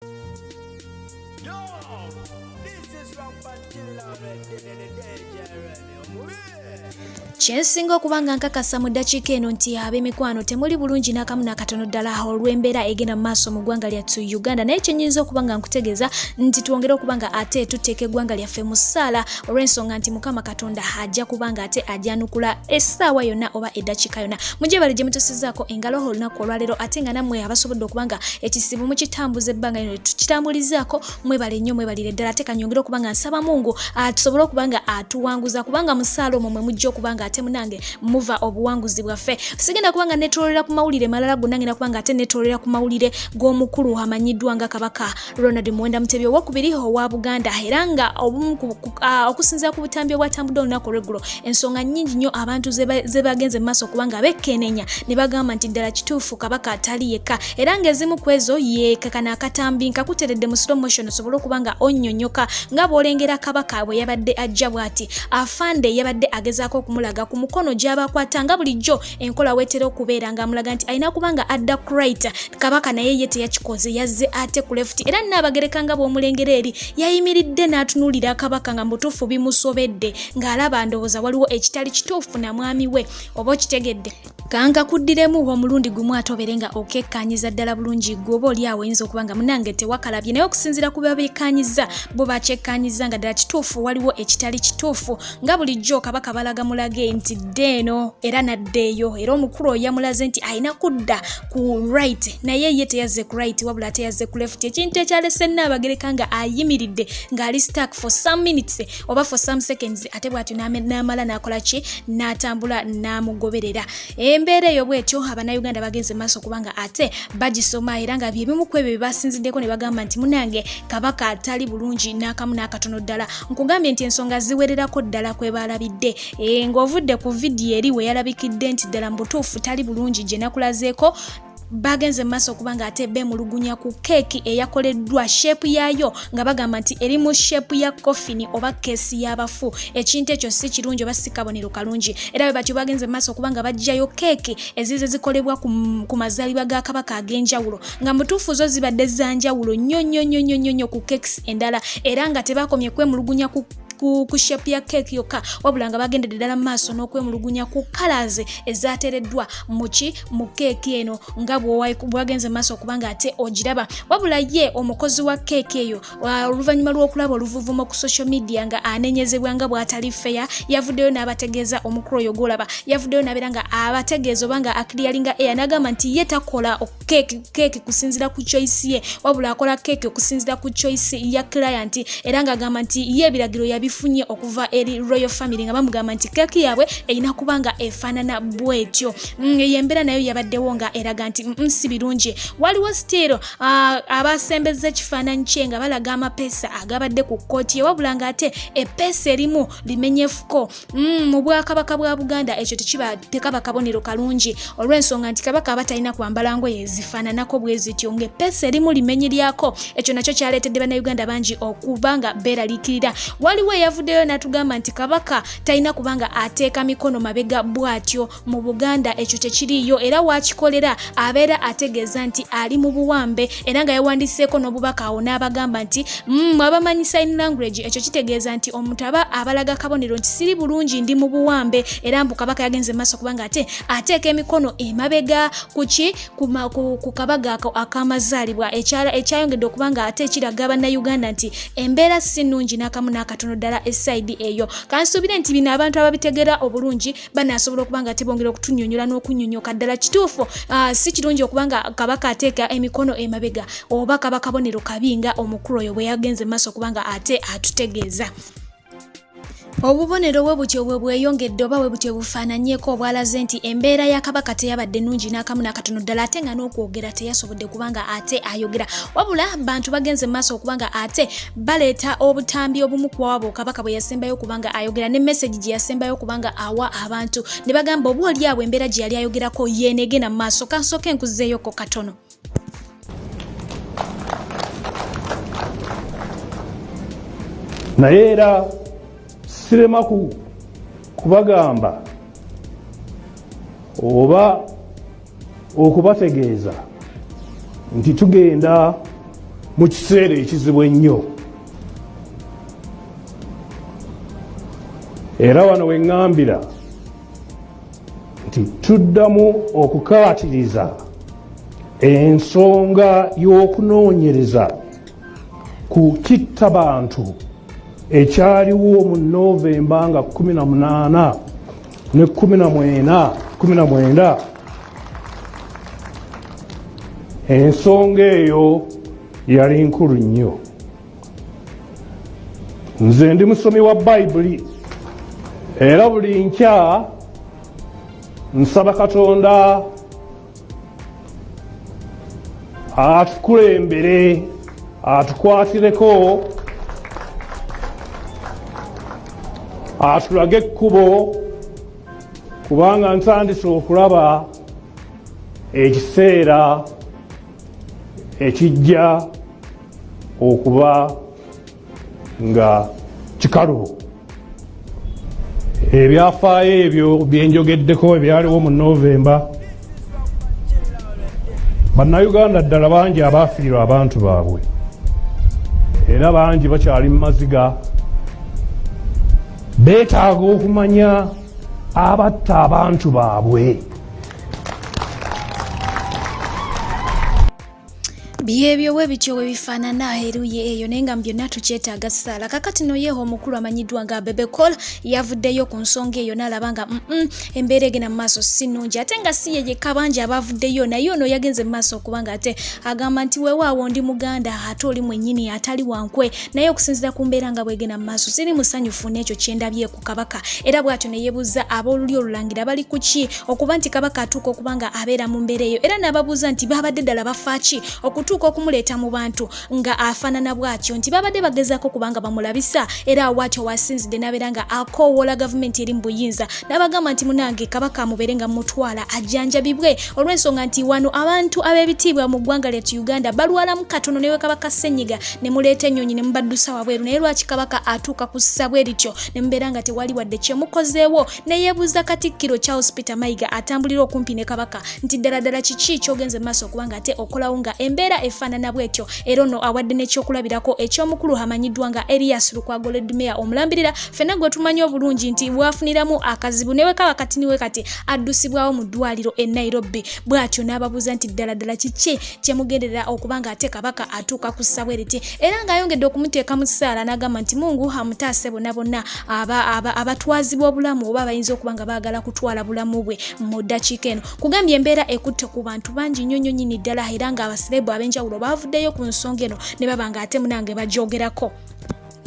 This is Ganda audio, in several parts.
Yo, this is Rock Pantilla Red, the DJ Red, kyensinga okuba nga nkakasa mu ddakiika eno nti ab'emikwano temuli bulungi n'akamu n'akatono ddala olw'embeera egenda mu maaso mu ggwanga lyattu uganda naye kyenyinza okuba nga nkutegeeza nti twongere okuba nga ate tuteeka eggwanga lyaffe mu ssaala olw'ensonga nti mukama katonda ajja kubanga ate ajanukula essaawa yonna oba eddakiika yonna mujebale gye mutusizaako engalo olunaku olwaleero ate nga nammwe abasobodde okuba nga ekisibu mukitambuza ebbanga lino tukitambulizaako mwebale nnyo mwebalire ddala ate kanyongere okuba nga nsaba mungu tusobole okuba nga atuwanguza kubanga musaala omwo mwe mujja okuba nga ate munange muva obuwanguzi bwaffe sigenda kuba nga netololera ku mawulire malala gonna ngenda kuba nga ate netololera ku mawulire g'omukulu amanyiddwa nga kabaka Ronald Muwenda Mutebi owokubiri owa Buganda era nga obumu okusinzira ku butambi obwatambudde olunaku olweggulo ensonga nnyingi nnyo abantu ze bagenze mu maaso kubanga bekkeenenya ne bagamba nti ddala kituufu kabaka atali yekka era ng'ezimu ku ezo yeekakana akatambi nkakuteredde mu slow motion osobole okuba nga onnyonyoka nga bw'olengera kabaka bwe yabadde ajja bw'ati afande yabadde agezaako okumulaga ku mukono gy'abakwata nga bulijjo enkola wetera okubeera nga amulaga nti alina kuba nga adda kurit kabaka naye ye teyakikoze yazze ate ku left era naabagereka nga bw'omulengera eri yayimiridde n'atunuulira kabaka nga mutuufu bimusobedde ng'alaba ndowooza waliwo ekitali kituufu na mwami we oba okitegedde kanga kuddiremu omulundi gumu ate obeere nga okekkaanyiza ddala bulungi gwe oba oli awo oyinza okuba nga munange tewakalabye naye okusinziira ku babekkaanyiza bo bakyekkaanyiza nga ddala kituufu waliwo ekitali kituufu nga bulijjo kabaka balaga mulage nti dda eno era nadda eyo era omukulu oyo yamulaze nti alina kudda ku right naye ye teyazze ku right wabula ate yazze ku left ekintu ekyalese nnaabagereka nga ayimiridde ng'ali stark for some minutes oba for some seconds ate bw'atyo n'amala n'akola ki n'atambula n'amugoberera embeera eyo bwetyo abanauganda bagenze maaso kubanga ate bagisoma era nga byebimu ku ebyo byebasinziddeko ne bagamba nti munange kabaka atali bulungi n'akamu n'akatono ddala nkugambye nti ensonga ziwererako ddala kwe baalabidde e, ng'ovudde ku vidiyo eri we yalabikidde nti ddala mu butuufu tali bulungi gye nakulazeeko baagenze mu maaso okuba nga ate beemulugunya ku keeki eyakoleddwa sheepu yaayo nga bagamba nti eri mu sheepu ya kofini oba keesi y'abafu ekintu ekyo si kirungi oba si kabonero kalungi era bwe batyo baagenze mu maaso okuba nga baggyayo keeki ezize zikolebwa ku mazaalibwa ga kabaka ag'enjawulo nga mutuufu zo zibadde za njawulo nnyo nnyo nnyo nnyo nnyo ku keekisi endala era nga tebaakomye kwemulugunya ku ku, ku shape ya keeki yokka wabula nga bagendedde ddala mu maaso n'okwemulugunya ku kalaaze ezateereddwa muki mu keeki eno nga bwagenze mu maaso okuba nga ate ogiraba wabula ye omukozi wa keeki eyo oluvannyuma lw'okulaba oluvuvumo ku social media nga anenyezebwa nga bw'atali feya yavuddeyo n'abategeeza omukulu oyo gwolaba yavuddeyo n'abeera nga abategeeza oba nga akiriyalinga eya n'agamba nti ye takola keeki keeki kusinzira ku choice ye wabula akola keeki okusinzira ku choice ya client era ng'agamba nti ye ebiragiro yabifunye okuva eri royal family nga bamugamba nti keeki yaabwe erina kuba nga efaanana bwetyo mm, eyo embeera nayo yabaddewo nga eraga nti mm, mm, si birungi waliwo still uh, abasembeza ekifaananyi kye nga balaga amapeesa agabadde ku kkooti ye wabula ng'ate epeesa erimu limenyefuko Mm, mu bwakabaka bwa buganda ekyo tekiba tekaba kabonero kalungi olw'ensonga nti kabaka aba talina kwambala ngoye ezifaananako bwe zityo ng'eppeesa erimu limenye lyako ekyo nakyo kyaleetedde bannayuganda bangi okuba nga beeraliikirira waliwo eyavuddeyo n'atugamba nti kabaka talina kubanga ateeka mikono mabega bw'atyo mu buganda ekyo tekiriiyo era wakikolera abeera ategeeza nti ali mu buwambe era nga yawandiseeko n'obubaka awo n'abagamba nti mm, mwabamanyi sign language ekyo kitegeeza nti omuntu aba abalaga kabonero nti siri bulungi ndi mu buwambe era mbu kabaka yagenze maaso kubanga ate ateeka emikono emabega kuki ku kabaga ako akamazaalibwa ekyayongedde okubanga ate ekiraga bannayuganda nti embeera si nnungi n'akamu n'akatono ddala esaidi eyo kansuubire nti bino abantu ababitegeera obulungi banaasobola okuba nga tebongera okutunyonyola n'okunyonyoka ddala kituufu ah, si kirungi okuba nga kabaka ateeka emikono emabega oba kaba kabonero kabi nga omukulu oyo bwe yagenze mu maaso okuba nga ate atutegeeza obubonero bwe butyo bwe bweyongedde oba bwe butyo bufaananyeko obwalaze nti embeera ya kabaka teyabadde nungi n'akamu n'akatono ddala ate nga n'okwogera teyasobola ode kubanga ate ayogera wabula bantu bagenze maaso okubanga ate baleeta obutambi obumu kuwawaba okabaka bwe yasembayo okubanga ayogera ne message gye yasembayo okubanga awa abantu ne bagamba oba oli awo embeera gye yali ayogerako yeenegena mu maaso kansooka enkuzeeyoko katono naye era sirema kubagamba oba okubategeeza nti tugenda mu kiseera ekizibu ennyo era wano weŋŋambira nti tuddamu okukaatiriza ensonga y'okunoonyereza ku kitta bantu ekyaliwo mu novemba nga 18 ne kumi na mwena kumi na mwenda ensonga eyo yali nkulu nnyo nze ndi musomi wa bayibuli era buli nkya nsaba katonda atukulembere atukwatireko atulage ekkubo kubanga ntandise okulaba ekiseera ekijja okuba nga kikalubo ebyafaayo ebyo byenjogeddeko ebyaliwo mu novemba bannayuganda ddala bangi abaafiirwa abantu baabwe era bangi bakyali mu maziga beetaaga okumanya abatta abantu baabwe byebyo bwe bityo bwe bifaanana eruyi eyo naye nga mu byonna tukyetaaga ssaala kakati no yeeho omukulu amanyiddwa nga bebekola yavuddeyo ku nsonga eyo n'alaba nga mm embeera egenda mu maaso si nnungi ate nga si ye yekka bangi abaavuddeyo naye ono yagenze mu maaso okuba nga ate agamba nti weewaawo ndi muganda ate oli mwennyini atali wankwe naye okusinziira ku mbeera nga bwegenda mu maaso siri musanyufu n'ekyo kye ndabye ku kabaka era bw'atyo ne yebuuza ab'olulyo olulangira bali ku ki okuba nti kabaka atuuka okuba nga abeera mu mbeera eyo era n'ababuuza nti baabadde ddala bafa ki okutuuka okumuleeta mu bantu nga afaanana bw'atyo nti baabadde bagezaako okuba nga bamulabisa era awaatyo wasinzidde n'abeera nga akoowoola gavumenti eri mu buyinza n'abagamba nti munange kabaka amubeere nga mutwala ajjanjabibwe olw'ensonga nti wano abantu ab'ebitiibwa mu ggwanga lyatu uganda balwalamu katono newe kabaka ssenyiga ne muleeta ennyonyi ne mubaddusa wabweru naye lwaki kabaka atuuka ku ssabwe erityo ne mubeera nga tewali wadde kyemukozeewo neyebuuza katikkiro charles peter mayiga atambulira okumpi ne kabaka nti ddala ddala kiki kyogenze maaso okuba nga ate okolawo nga embeera efaanana bwetyo era ono awadde n'ekyokulabirako eky'omukulu amanyiddwa nga elias lukwago ledmeya omulambirira fena gwe tumanyi obulungi nti bwafuniramu akazibu newe kaba kati niwe kati addusibwawo mu ddwaliro e nairobi bwatyo n'ababuuza nti ddala ddala kiki kyemugenderera okuba nga ate kabaka atuuka ku ssabwe riti era ng'ayongedde okumuteeka mu ssaala n'agamba nti mungu amutaase bona bonna abatwazibwa obulamu oba abayinza okuba nga baagala kutwala bulamu bwe mu ddakiika eno kugambye embeera ekutte ku bantu bangi nnyo nnyo nyini ddala era nga abasirebu ab'enjawulo baavuddeyo ku nsonga eno ne baba nga ate munange bagyogerako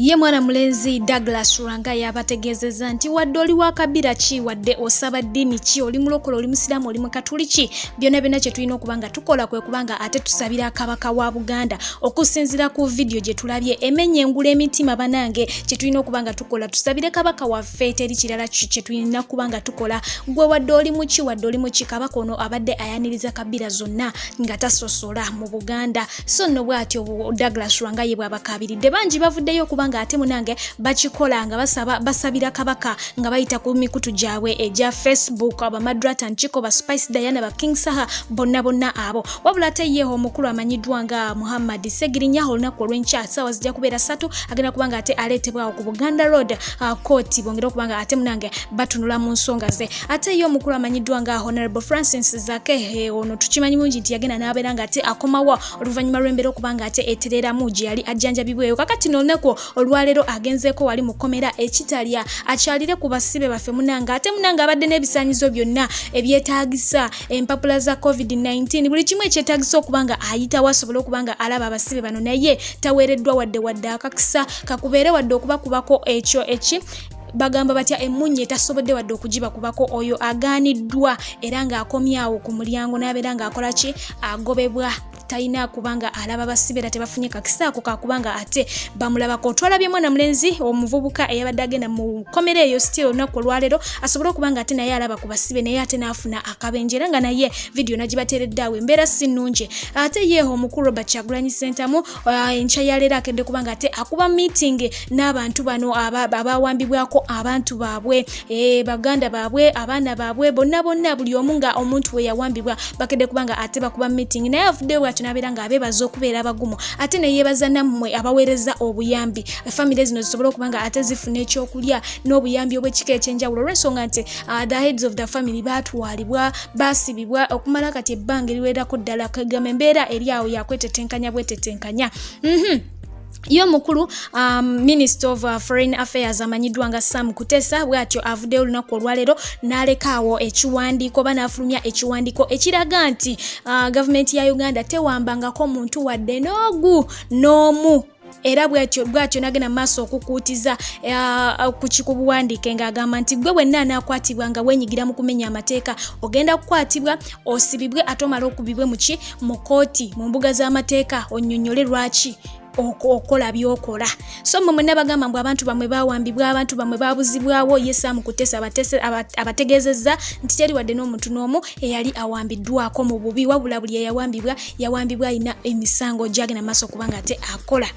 ye mwana mulenzi douglas rwanga yabategeezezza nti wadde oli wa kabira ki wadde osaba ddiini ki oli mulokola oli musiraamu oli mukatuliki byonna byonna kye tulina okuba nga tukola kwe kubanga ate tusabira kabaka wa buganda okusinziira ku vidiyo gye tulabye emenya engula emitima banange kye tulina okuba nga tukola tusabire kabaka waffe teri kirala kye tulina kuba nga tukola gwe wadde oli muki wadde oli muki kabaka ono abadde ayaniriza kabira zonna nga tasosola mu buganda so nno bwatyo douglas lwanga ye bwabakabiridde bangi bavuddeyo okuba nga ate munange bakikola nga basaba basabira kabaka nga bayita ku mikutu gyabwe egya facebook abamadrata nkiko ba spice diana ba king saha bonna bonna abo wabula ate ye omukulu amanyiddwa nga muhammad segirinya olunaku olwenkya saawa zijja kubeera satu agenda kuba nga ate aleetebwawo ku buganda road kooti uh, bongere okuba nga ate munange batunula mu nsonga ze ate ye omukulu amanyiddwa nga honorable francis zake eh, ono tukimanyi mungi nti yagenda n'abeera nga ate akomawo oluvannyuma lw'embeera okuba nga ate etereeramu gye yali ajjanjabibweyo kakati n'olunaku olwaleero agenzeeko wali mu kkomera ekitalya akyalire ku basibe baffe munange ate munange abadde n'ebisaanyizo byonna ebyetaagisa empapula za covid-19 buli kimu ekyetagisa okuba nga ayitawo asobole okuba nga alaba abasibe bano naye taweereddwa wadde wadde akakisa kakubeere wadde okubakubako ekyo eki bagamba batya emunye tasobodde wadde okugibakubako oyo agaaniddwa era ng'akomyawo ku mulyango n'abeera ng'akola ki agobebwa talina kubanga alaba basibe era tebafunye kakisaako kakubanga ate bamulabako otwalabye mwana mulenzi omuvubuka eyabadde agenda mu kkomera eyo stil olunaku olwaleero asobole okuba nga ate naye alaba ku basibe naye ate n'afuna akabenje era nga naye vidiyo nagibateeredde awo embeera si nnungi ate ye omukulu robert kyagulanyi sentamu uh, enkya yaleero akedde kubanga ate akuba meeting n'abantu bano abawambibwako abantu baabwe eh, baganda baabwe abaana baabwe bonna bonna buli omu nga omuntu we yawambibwa bakedde kuba nga ate bakuba meeting naye avuddeyo bwatyo nabeera nga abeebaza okubeera abagumu ate neyeebaza nammwe abaweereza obuyambi famire zino zisobole okuba nga ate zifuna ekyokulya n'obuyambi obw'ekika ekyenjawulo olw'ensonga nti uh, the heads of the family baatwalibwa baasibibwa okumala kati ebbanga eriwererako ddala kagamba embeera eri awo yakwetetenkanya bwetetenkanya mm -hmm. ye omukulu um, minister of uh, foreign affairs amanyiddwa nga sam kutesa bwatyo avuddeyo olunaku olwaleero n'alekaawo ekiwandiiko oba n'afulumya ekiwandiiko ekiraga nti uh, gavumenti ya uganda tewambangako muntu wadde n'ogu n'omu era bwatyo bwatyo nagenda maaso okukuutiza uh, ku kikubuwandiike ng'agamba nti gwe wenna anaakwatibwa nga wenyigira mu kumenya amateeka ogenda kukwatibwa osibibwe ate omala okubibwe muki mu kooti mu mbuga z'amateeka onyonyole lwaki okola byokola so mwe mwena bagamba mbu abantu bamwe bawambibwa abantu bamwe babuzibwawo ye sam kutesa abategezeza nti teri wadde n'omuntu n'omu eyali awambiddwako mu bubi wabula buli eyawambibwa yawambibwa alina emisango gyagenda maaso kubanga ate akola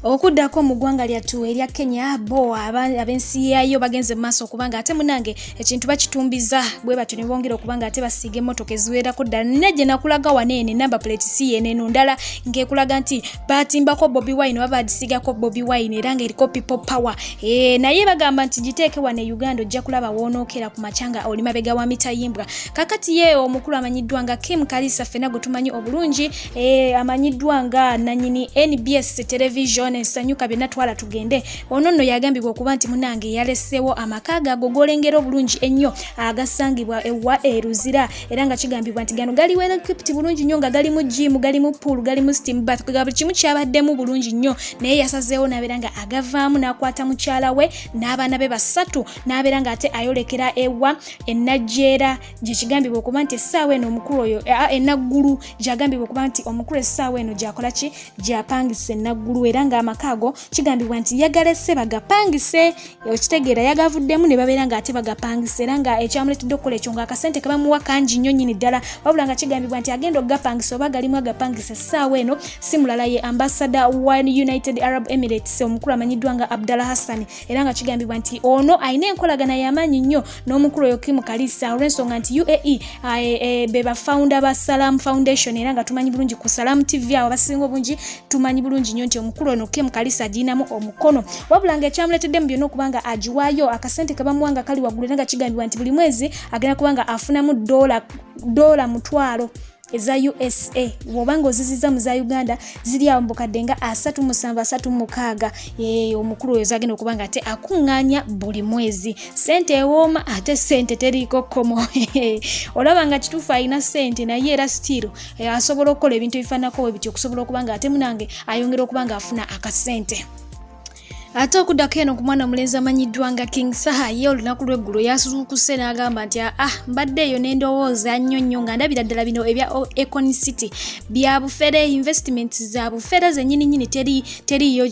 okuddako mu ggwanga lyattu erya kenya bo ab'ensi yaayo bagenze mu maaso okubanga ate munange ekintu bakitumbiza bwe batyo ne bongera okuba nga ate basiiga emmotoka eziwerako ddala nina gye nakulaga wana ene namba plate si yeneno ndala ng'ekulaga nti batimbako bobi wine oba bagisigako bobi wine era ng'eriko people power e, naye bagamba nti giteeke wana e uganda ojja kulaba woonookera ku makya nga oli mabega wa mitayimbwa kakati ye omukulu amanyiddwa nga kim kalisa ffena gwe tumanyi obulungi e, amanyiddwa nga nanyini nbs television esanyuka byonna twala tugende Ono nno yagambibwa okuba nti munange yalesewo amaka ge ago golengera obulungi ennyo agasangibwa ewa eruzira era nga kigambibwa nti gano gali welekipti bulungi nnyo nga galimu jimu galimu pool galimu steam bath ga buli kimu kyabaddemu bulungi nnyo naye yasazeewo nabeera nga agavaamu n'akwata mukyala we n'abaana be basatu n'abeera nga ate ayolekera ewa enajjeera gyekigambibwa okuba nti essaawa eno omukulu oyo enaggulu gyagambibwa okuba nti omukulu essaawa eno gyakola ki gyapangisa enaggulu era nga amaka ago kigambibwa nti yagalese bagapangise okitegeera yagavuddemu ne babeera ng'ate bagapangise era nga ekyamuleetedde okukola ekyo ng'akasente ke bamuwa kangi nnyo nnyini ddala wabula nga kigambibwa nti agenda okugapangisa oba galimu agapangisa essaawa eno si mulala ye ambasada wa united arab emirates omukulu amanyiddwa nga abdallah hassan era nga kigambibwa nti ono alina enkolagana y'amaanyi nnyo n'omukulu oyo Kim Kalisa olw'ensonga nti UAE ah, eh, eh, be ba founder ba Salam Foundation era nga tumanyi bulungi ku Salam TV awo abasinga obungi tumanyi bulungi nnyo nti omukulu ono Kim Kalisa agirinamu omukono wabula nga ekyamuleetedde mu byonna okuba nga agiwaayo akasente ke bamuwa nga kali waggulu era nga kigambibwa nti buli mwezi agenda kuba nga afunamu doola mutwalo eza usa woba nga oziziza mu za uganda ziri awo mubukadde nga asatu musanvu asatu mukaaga eh, omukulu oyo zagenda okuba nga ate akuŋŋaanya buli mwezi sente ewooma ate sente teriiko kkomo olaba nga kituufu alina sente naye era sitiiro eh, asobola okukola ebintu ebifaananako we bityo okusobola okuba nga ate munange ayongera okuba nga afuna akasente ate okuddako eno ku mwana omulenzi amanyiddwa nga king saha ye olunaku lw'eggulo yasuzuukuse n'agamba nti ah, ah mbadde eyo n'endowooza nnyo nnyo nga ndabira ddala bino ebya econ city bya bufere investment za bufere zennyini nyini teri teriyo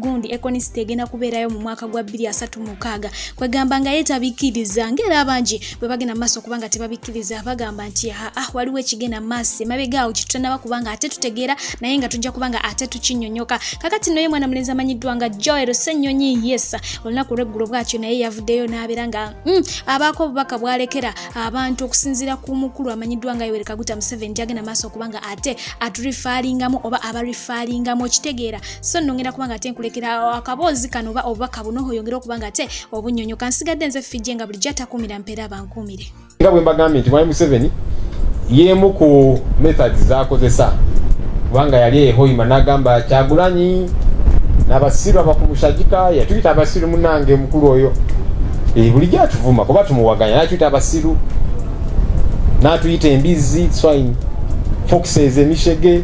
gundi econ city egenda kubeerayo mu mwaka gwa 236 kwegamba nga yetabikiriza ngaera abangi bwe bagenda maaso kubanga tebabikkiriza bagamba nti aa ah, waliwo ekigenda maaso emabega awo kitutanaba kubanga ate tutegeera naye nga tujja kubanga ate tukinyonyoka kakati noye mwana mulenzi amanyiddwa nga joel senyonyi yes olunaku olweggulo bwatyo naye yavuddeyo n'abeera nga mm, abaako obubaka bwalekera abantu okusinziira ku mukulu amanyiddwa nga yowerekaguta museveni gyagenda maaso kubanga ate aturifalingamu oba abarifaalingamu okitegeera so nno ngenda kubanga ate nkulekera akaboozi kano oba obubaka buno oyongere okubanga ate obunyonyo kansigadde nze fijje nga bulijjo atakuumira mpeera abankuumire nga bwe mbagambye nti mwami museveni yeemu ku methods zakozesa kubanga yali ehoima nagamba kyagulanyi nabasiru abakumushagika yatuyita abasiru munange mukulu oyo e, bulijjo atuvuma kuba tumuwaganya natuyita abasiru natuyita embizzi swine foxes emishege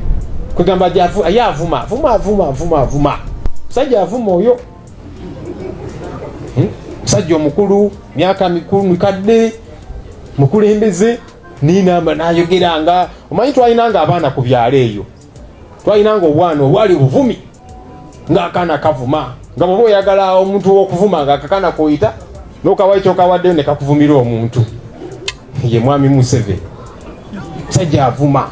kwegamba aye avuma avuma avuma avuma avuma musajja avuma oyo hmm? musajja omukulu myaka mikulu mikadde mukulembeze ninamba nayogeranga omanyi twalinanga abaana ku byalo eyo twalinanga obwana obwali obuvumi ng'akaana kavuma nga bwoba oyagala omuntu wokuvuma nga akakaana koyita nokawayo kyokawaddeyo ne kakuvumira omuntu ye mwami museveni musajja avuma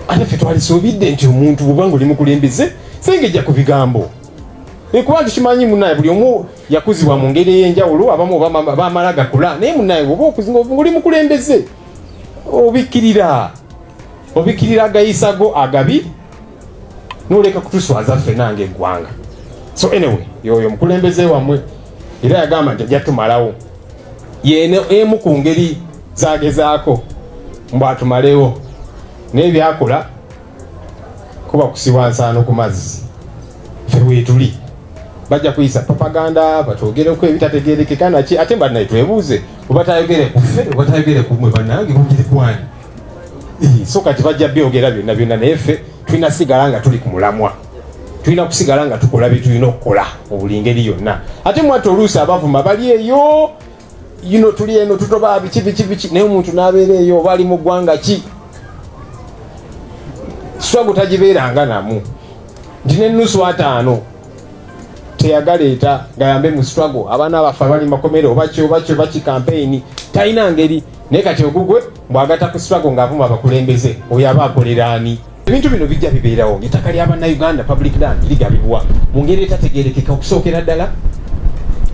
ate ffe twalisuubidde nti omuntu bwobanga oli mukulembeze sengejja ku bigambo ekuba nti kimanyi munaye buli omu yakuzibwa mu ngeri ey'enjawulo abamu bamala gakula naye munaye bwoba okuzinga oli mukulembeze obikkirira obikirira agayisa go agabi noleka kutuswaza ffe nange eggwanga so anyway yoyo omukulembeze wamwe era yagamba nti ajja tumalawo yene emu ku ngeri zagezaako mbu atumalewo naye byakola kuba kusiwa nsaano ku mazzi ffe wetuli bajja kuyisa propaganda batwogereko ebitategerekeka naki ate mbannaye twebuuze obatayogere kuffe obatayogere kumwe bannange bugiri kwani so kati bajja byogera byonna byonna naye ffe tulina sigala nga tuli ku mulamwa tulina kusigala nga tukola bye tulina okukola mu buli ngeri yonna ate mwati oluusi abavuma bali eyo yino tuli eno tutoba biki biki biki naye omuntu n'abeera eyo oba ali mu ggwanga ki swagu tagibeeranga namu nti n'ennusu ataano teyagaleeta ngayambe mu swago abaana baffe abali makomere obaki obaki obaki kampeyini talina ngeri naye kati ogugwe mbwagata ku strago ng'avuma abakulembeze oyo aba akolera ani ebintu bino bijja bibeerawo ettaka lya bannayuganda public land ligabibwa mu ngeri etategerekeka okusookera ddala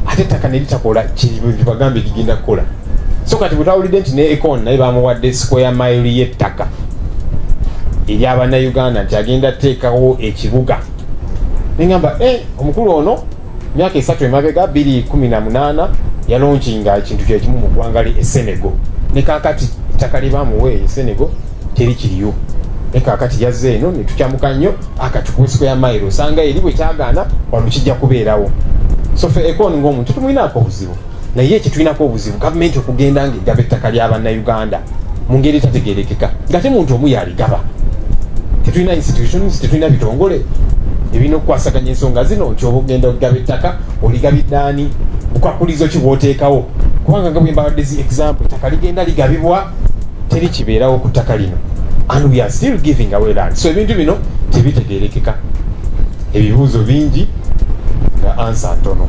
ate ettaka ne litakola kyebagambye ligenda kukola so kati bwetawulidde nti ne econ naye bamuwadde square mile y'ettaka erya bannayuganda nti agenda teekawo ekibuga nengamba eh, omukulu ono myaka esatu emabega biri kumi na munaana yalonkinga ekintu kyekimu mu ggwanga lye esenego ne kakati ettaka lye bamuwa eyo esenego teri kiriyo ne kakati yazze eno ne tukyamuka nnyo akati ku nsiko ya mayiro osanga eri bwe kyagaana wano kijja kubeerawo so fe ekooni ng'omuntu tumulinako obuzibu naye ekitulinako obuzibu gavumenti okugenda nga egaba ettaka lya bannayuganda mu ngeri etategerekeka nga te muntu omu yaligaba tetulina institutions tetulina bitongole ebirina okukwasaganya ensonga zino nti oba ogenda okugaba ettaka oligabiddaani bukwakulizo ki bwoteekawo kubanga nga bwembabadde zi example ettaka ligenda ligabibwa teri kibeerawo ku ttaka lino and we are still giving away land so ebintu bino tebitegerekeka ebibuuzo bingi nga ansa ntono